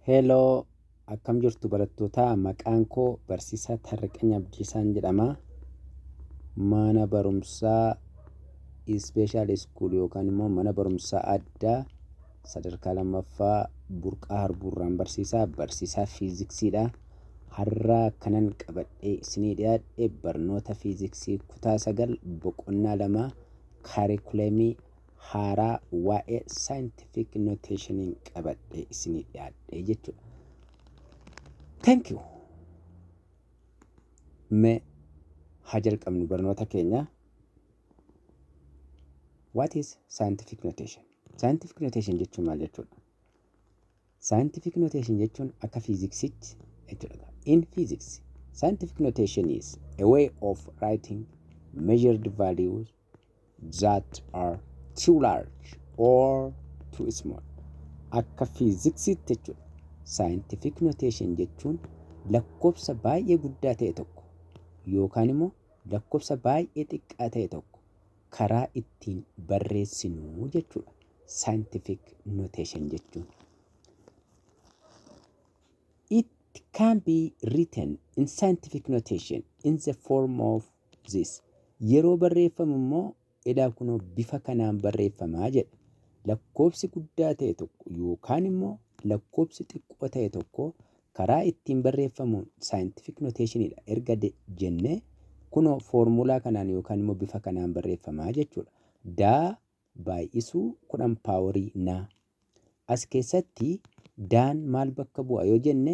Hello, akkam jirtu barattootaa? Maqaan koo Barsiisaa Taarriqany Abdiisaan jedhama. Mana barumsaa Ispeeshaal Iskuul yookaan immoo mana barumsaa addaa sadarkaa lammaffaa Burqaa Harbuurraan barsiisaa barsiisaa fiiziksiidha. Har'a kanan qabadhee isinii dhiyaadhe barnoota fiiziksii kutaa sagal boqonnaa lama kaarikuleemii haaraa waa'ee scientific notationiin qabadhee isinii dhiyaadhee jechuudha. Thank you. Mee haa jalqabnu barnoota keenya. What is scientific notation? Scientific notation jechuun maal jechuudha? Scientific notation jechuun akka fiiziksiitti jechuudha. In physics, scientific notation is a way of writing measured values that are too large or too small akka fiiziksiitti jechuudha. Scientific notation jechuun lakkoofsa baay'ee guddaa ta'e tokko yookaan immoo lakkoofsa baay'ee xiqqaa ta'e tokko karaa ittiin barreessinu jechuudha. Scientific notation jechuun. It can be written in scientific notation in the form of this. Yeroo barreeffamu immoo edaa kunoo bifa kanaan barreeffama jedha. Lakkoofsi guddaa ta'e tokko yookaan immoo lakkoofsi xiqqoo ta'e tokko karaa ittiin barreeffamuun scientific notation dha erga de- jenne kunoo foormulaa kanaan yookaan immoo bifa kanaan barreeffama jechuudha. Daa baay'isuu kudhan paaworii naa. As keessatti daan maal bakka bu'a yoo jenne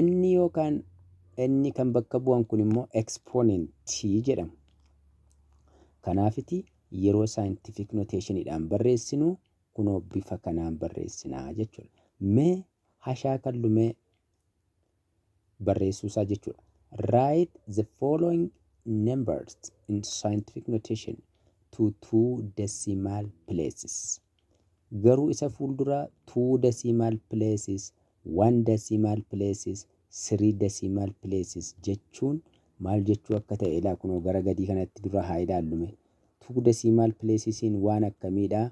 N yookaan N kan bakka bu'an kun immoo ekspoonentii jedhamu. Kanaafiti yeroo saayintifiik noteeshiniidhaan barreessinu kunoo bifa kanaan barreessinaa jechuudha. Mee hashaa kallumee barreessuu isaa jechuudha. Write the following numbers in scientific notation to two decimal places. Garuu isa fuulduraa two decimal places One decimal places, three decimal places jechuun maal jechuu akka ta'e ilaa kunoo gara gadii kanatti dura haa ilaallu mee. Two decimal places'n waan akkamii dha?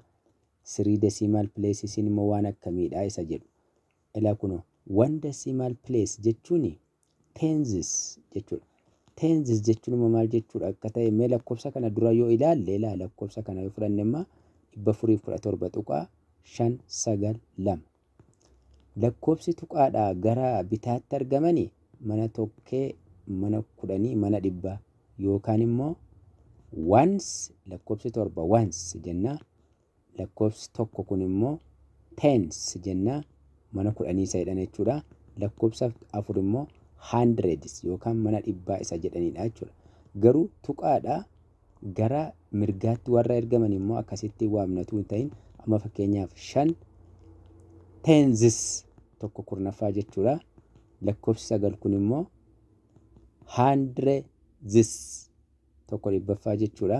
Three decimal places'n immoo waan akkamii dha? isa jedhu. Ilaa kunoo one decimal place jechuun tenses jechuudha. Tenses jechuun immoo maal jechuudha akka ta'e mee lakkoofsa kana dura yoo ilaalle ilaa lakkoofsa kana yoo fudhanne immoo dhibba afurii fi kudha torba tuqaa shan sagal lama. Lakkoofsi tuqaadhaa gara bitaatti argamani mana tokkee mana kudhanii mana dhibbaa yookaan immoo once lakkoofsi torba once jennaa Lakkoofsi tokko kun immoo tens jenna. Mana kudhanii isa jedhan jechuudha. Lakkoofsa afur immoo hundreds yookaan mana dhibbaa isa jedhanidha jechuudha. Garuu tuqaadha gara mirgaatti warra ergaman immoo akkasitti waamnatu hin ta'in amma fakkeenyaaf shan tenzis tokko kurnaffaa jechuudha. Lakkoofsi sagal kun immoo hundreds tokko dhibbaffaa jechuudha.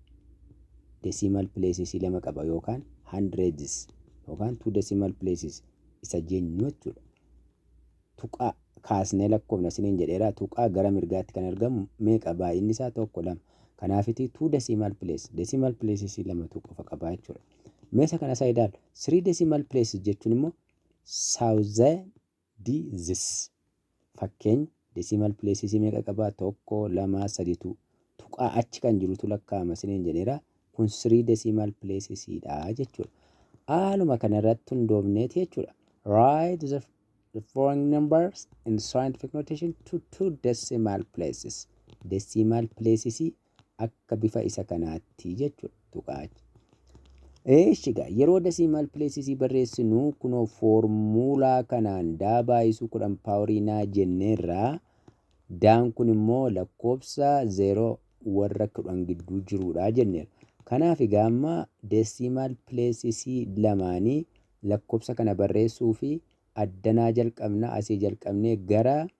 decimal places lama qaba yookaan hundreds yookaan two decimal places isa jennu jechuudha. Tuqaa kaasnee lakkoofna isiniin jedheera tuqaa gara mirgaatti kan argamu meeqa baay'inni isaa tokko lama. Kanaafiti two decimal place decimal places lamatu qofa qaba jechuudha. Meesa kana isaa ilaalu three decimal places jechuun immoo thousand D. This. Fakkeenya, Decimal places meeqa qaba? 1, 2, 3, 2. Tuqaa achi kan jirutu lakkaa'ama isiniin jedheera. Kun 3 decimal places dha jechuudha. Haaluma kana irratti hundoofneeti jechuudha. Write the the following numbers in scientific notation to two decimal places. Decimal places akka bifa isa kanaatti jechuudha tuqaa achi. Eeshi gaa yeroo dasiimaal pileesisii barreessinu kunoo foormuulaa kanaan daa baay'isuu kudhan paaworii naa jenneerraa daan kun immoo lakkoofsa zeeroo warra kudhan gidduu jiruudha jenneera. Kanaaf egaa amma desiimaal pileesisii lamaanii lakkoofsa kana barreessuu fi addanaa jalqabna asii jalqabnee gara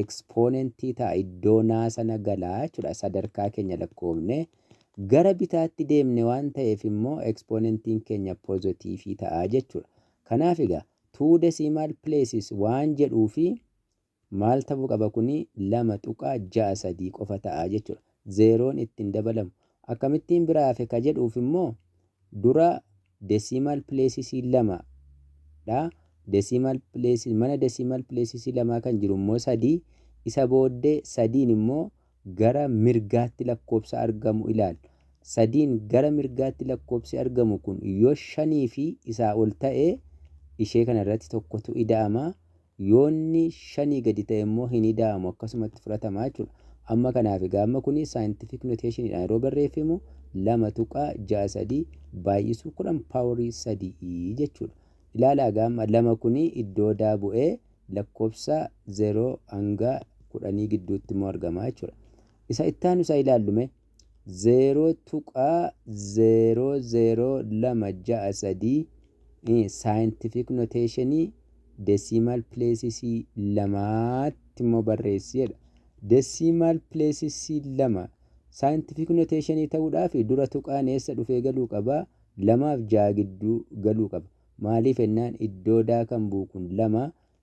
ekspoonentii ta'a iddoo naa sana gala jechuudha sadarkaa keenya lakkoofne gara bitaatti deemne waan ta'eef immoo ekspoonentiin keenya pozitiifii ta'a jechuudha kanaaf egaa two decimal places waan jedhuu fi maal ta'uu qaba kuni lama tuqaa ja'a sadii qofa ta'a jechuudha zeeroon itti hin dabalamu. Akkamittiin bira hafe ka jedhuuf immoo dura decimal places-iin 2 dha. Decimal places, mana decimal places lamaa kan jiru immoo 3. Isa booddee 3n immoo gara mirgaatti lakkoofsa argamu ilaalla. 3n gara mirgaatti lakkoofsi argamu kun yoo 5 fi isaa ol ta'e ishee kana irratti tokkotu ida'ama. Yoo inni shanii gadi ta'e immoo hin ida'amu akkasumatti fudhatama jechuudha. Amma kanaaf egaa amma kuni scientific notation dhaan yeroo barreeffemu 2.63 baay'isuu 10 power 3 jechuudha. Ilaalaa egaa amma 2 kuni iddoo daa bu'ee lakkoofsa 0 hanga 10 gidduutti immoo argama jechuudha. Isa itti aanu isaa ilaallu mee. 0.002663 Saayintifiik noteeshinii desiimaal pileesisii lamaatti immoo barreessi jedha. Desiimaal pileesisii lama saayintifiik noteeshinii ta'uudhaaf dura tuqaan eessa dhufee galuu qaba? lamaaf ja'a gidduu galuu qaba. Maaliif jennaan iddoo daa kan bu'u kun lama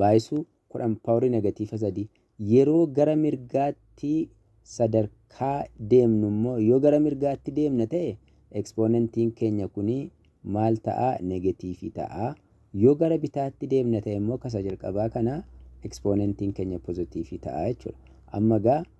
baayisuu 10 pawrii negatiifa 3 yeroo gara mirgaatti sadarkaa deemnu immoo yoo gara mirgaatti deemna ta'e ekspoonentiin keenya kuni maal ta'a negatiifi ta'a yoo gara bitaatti deemna ta'e immoo kasa jalqabaa kana ekspoonentiin keenya pozatiifi ta'a jechuudha amma gaa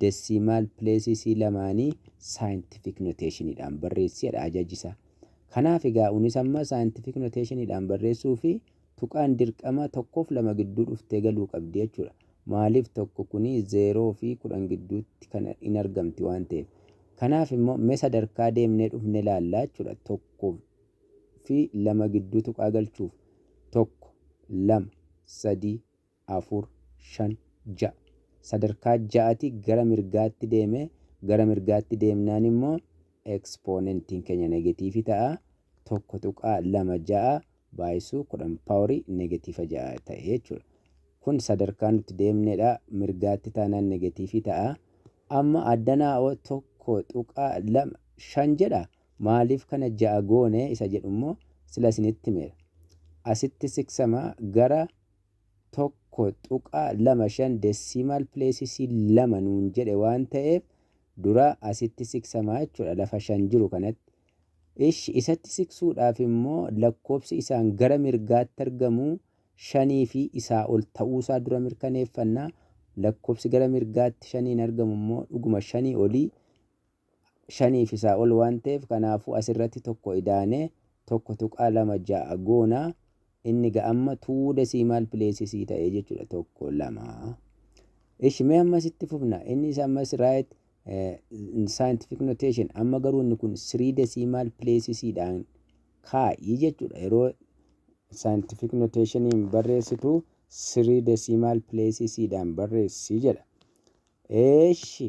desiimaal pileesisii lamaanii saayintifiik noteeshiniidhaan barreessi jedha ajaji isaa. Kanaaf egaa unis amma saayintifiik noteeshiniidhaan barreessuuf tuqaan dirqama tokkoof lama gidduu dhuftee galuu qabdi jechuudha. Maaliif tokko kuni zeeroo fi kudhan gidduutti kan in argamti waan ta'eef. Kanaaf immoo mee sadarkaa deemnee dhufne ilaalla jechuudha. Tokko fi lama gidduu tuqaa galchuuf. Tokko, lama, sadii, afur, shan, ja'a. Sadarkaa ja'ati gara mirgaatti deeme, gara mirgaatti deemnaan immoo ekspoonentiin keenya negatiivi ta'a, 1.26 baayisuu 10 paawori negatiifa 6 ta'e jechuudha. Kun sadarkaa nuti deemnedha, mirgaatti taanaan negatiifi ta'a. Amma addanaa'oo 1.25 jedha, maaliif kana 6 goone isa jedhu immoo sila isinitti himeera. Asitti siksama gara 1.25 decimal places 2 nuun jedhe waan ta'eef dura asitti siqsama jechuudha lafa 5 jiru kanatti. Ishi isatti siqsuudhaaf immoo lakkoofsi isaan gara mirgaatti argamu 5 fi isaa ol ta'uusaa dura mirkaneeffanna. Lakkoofsi gara mirgaatti 5n argamu immoo dhuguma 5 olii shanii fi isaa ol waan ta'eef kanaafuu as irratti tokko idaanee 1.26 goona. Inni ga amma two decimal places ta'ee jechuudha tokko lama. Ishi mee ammas itti fufna inni isa ammas right scientific notation amma garuu inni kun three decimal places dhaan kaa'ii jechuudha yeroo scientific notationiin barreessitu three decimal places dhaan barreessi jedha. Eeshi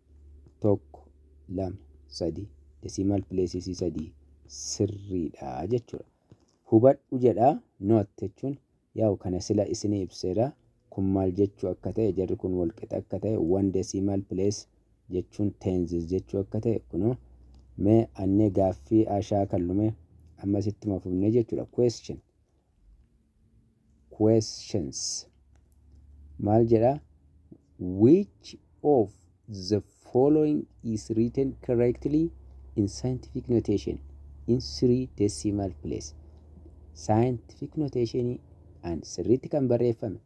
tokko lama sadii desiimaal pileesisii sadii sirriidha jechuudha. Hubadhu jedha noot jechuun yaa'u kana sila isinii ibseera kun maal jechuu akka ta'e jarri kun walqixa akka ta'e wan desiimaal pilees jechuun teenzis jechuu akka ta'e kunoo mee annee gaaffii ashaa kan lume ammas ittuma fufnee jechuudha question questions maal jedha which of the following is written correctly in scientific notation in three decimal place scientific notation and sirriitti kan barreeffame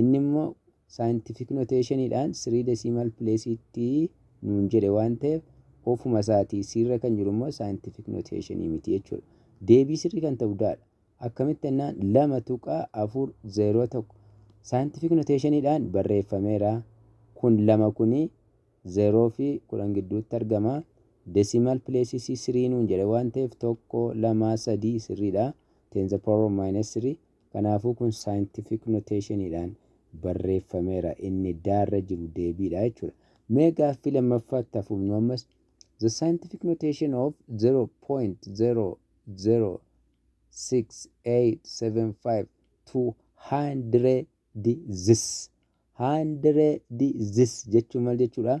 Inni immoo saayintifiik noteeshaniidhaan sirii desiimal pileesiitti nuun jedhe waan ta'eef ofuma isaatii C irra kan jiru immoo saayintifiik noteeshanii miti jechuudha. Deebii sirrii kan ta'u D dha. Akkamitti jennaan 2.401 saayintifiik noteeshaniidhaan barreeffameera. Kun 2 kuni 0 fi 10 gidduutti argama. Desiimal pileesii C sirii nuun jedhe waan ta'eef 1, 2, 3 sirriidha. 10 the power of minus 3 Kanaafuu kun scientific notation dhaan barreeffameera. Inni da irra jiru deebii dha jechuu dha. Mee gaaffii lammaffaatti haa fufnu ammas. The scientific notation of 0.006875200ths. Hundredths jechuun maal jechuu dha?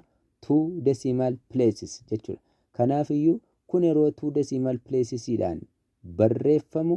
Two decimal places jechuu dha. Kanaaf iyyuu kun yeroo two decimal places dhaan barreeffamu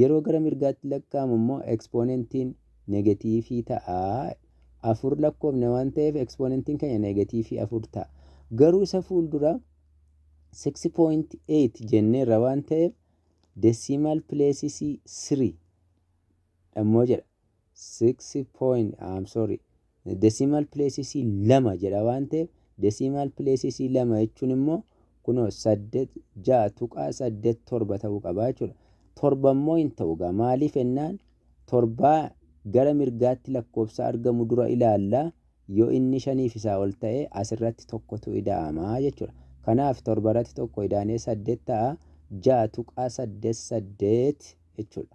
Yeroo gara mirgaatti lakkaa'amu immoo ekspoonentiin negatiivii ta'a. 4 lakkoofne waan ta'eef ekspoonentiin keenya negatiivii 4 ta'a. Garuu isa fuuldura 6.8 jenneerra waan ta'eef desiimaal pileesisii 3 dhammoo jedha. six point I'm sorry decimal places lama jedha waan ta'eef decimal places lama jechuun immoo kunoo saddeet ja'a tuqaa saddeet torba ta'uu qaba jechuudha. Torba immoo hin ta'u egaa maaliif ennaan torbaa gara mirgaatti lakkoofsa argamu dura ilaalla yoo inni shaniif isaa ol ta'e asirratti tokkotu ida'ama jechuudha. Kanaaf torba irratti tokko idaanee saddeet ta'a ja'a tuqaa saddeet saddeet jechuudha.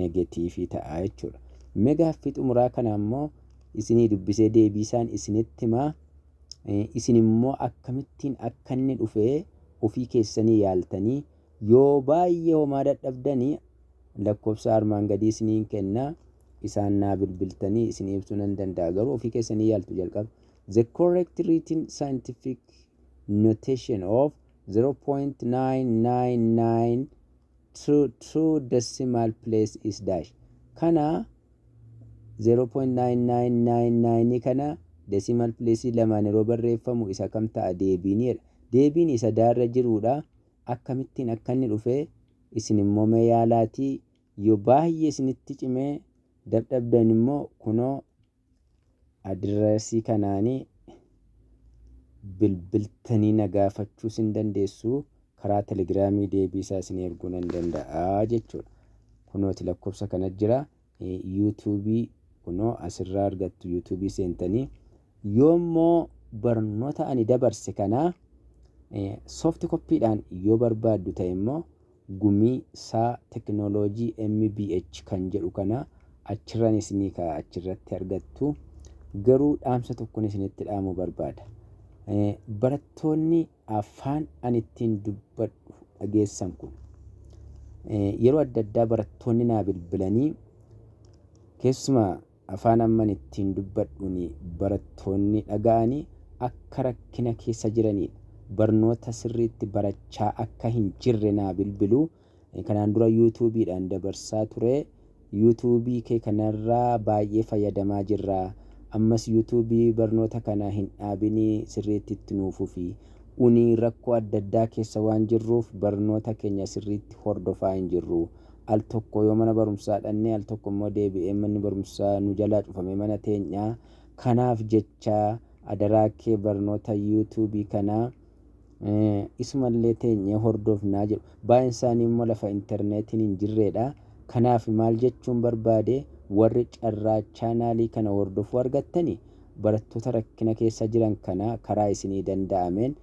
negatiivii ta'a jechuudha. Mee gaaffii xumuraa kana immoo isinii dubbisee deebiisaan isinitti himaa isin immoo akkamittiin akka inni dhufee ofii keessanii yaaltanii yoo baay'ee homaa dadhabdanii lakkoofsa armaan gadii isiniin kenna isaan naa bilbiltanii isin ibsuu nan danda'a garuu ofii keessanii yaaltu jalqaba. The correct written scientific notation of 0.999 True true decimal place is dash kana zero point nine nine nine nine kana decimal place lamaan yeroo barreeffamu isa kam ta'a deebiin jedha deebiin isa daa irra jiruudha akkamittiin akka inni dhufe isin immoo mee yaalaatii yoo baay'ee isinitti cimee dadhabdan immoo kunoo Adireesii kanaani bilbiltanii na gaafachuus hin dandeessuu karaa telegiraamii deebii isaa isinii erguu nan danda'a jechuudha. Kunooti lakkoofsa kana jira. Yuutuubii kunoo asirraa argattu yuutuubii seentanii yoommoo barnoota ani dabarse kana soofti koppiidhaan yoo barbaaddu ta'e immoo gumii saa technology MBH kan jedhu kana achirran isinii ka'a achirratti argattu garuu dhaamsa tokkon isinitti dhaamu barbaada barattoonni afaan ani ittiin dubbadhu dhageessan kun yeroo adda addaa barattoonni naa bilbilanii keessumaa Afaan amman ittiin dubbadhuun barattoonni dhaga'anii akka rakkina keessa jiraniidha. Barnoota sirriitti barachaa akka hin jirre naa bilbilu. Kanaan dura YouTube dhaan dabarsaa ture. YouTube kee kanarraa baay'ee fayyadamaa jirra. Ammas YouTube barnoota kana hin dhaabin sirriitti itti nuu fufi. Uni rakkoo adda addaa keessa waan jirruuf barnoota keenya sirriitti hordofaa hin jirru. al tokko yoo mana barumsaa dhannee al tokko immoo deebi'ee manni barumsaa nu jalaa cufamee mana teenyaa kanaaf jecha adaraa kee barnoota you tube kanaa isuma illee teenyee hordofnaa jedhu baay'een isaanii immoo lafa interneetiin hin jirreedha kanaaf maal jechuun barbaade warri carraa chaanaalii kana hordofuu argattani barattoota rakkina keessa jiran kana karaa isinii danda'ameen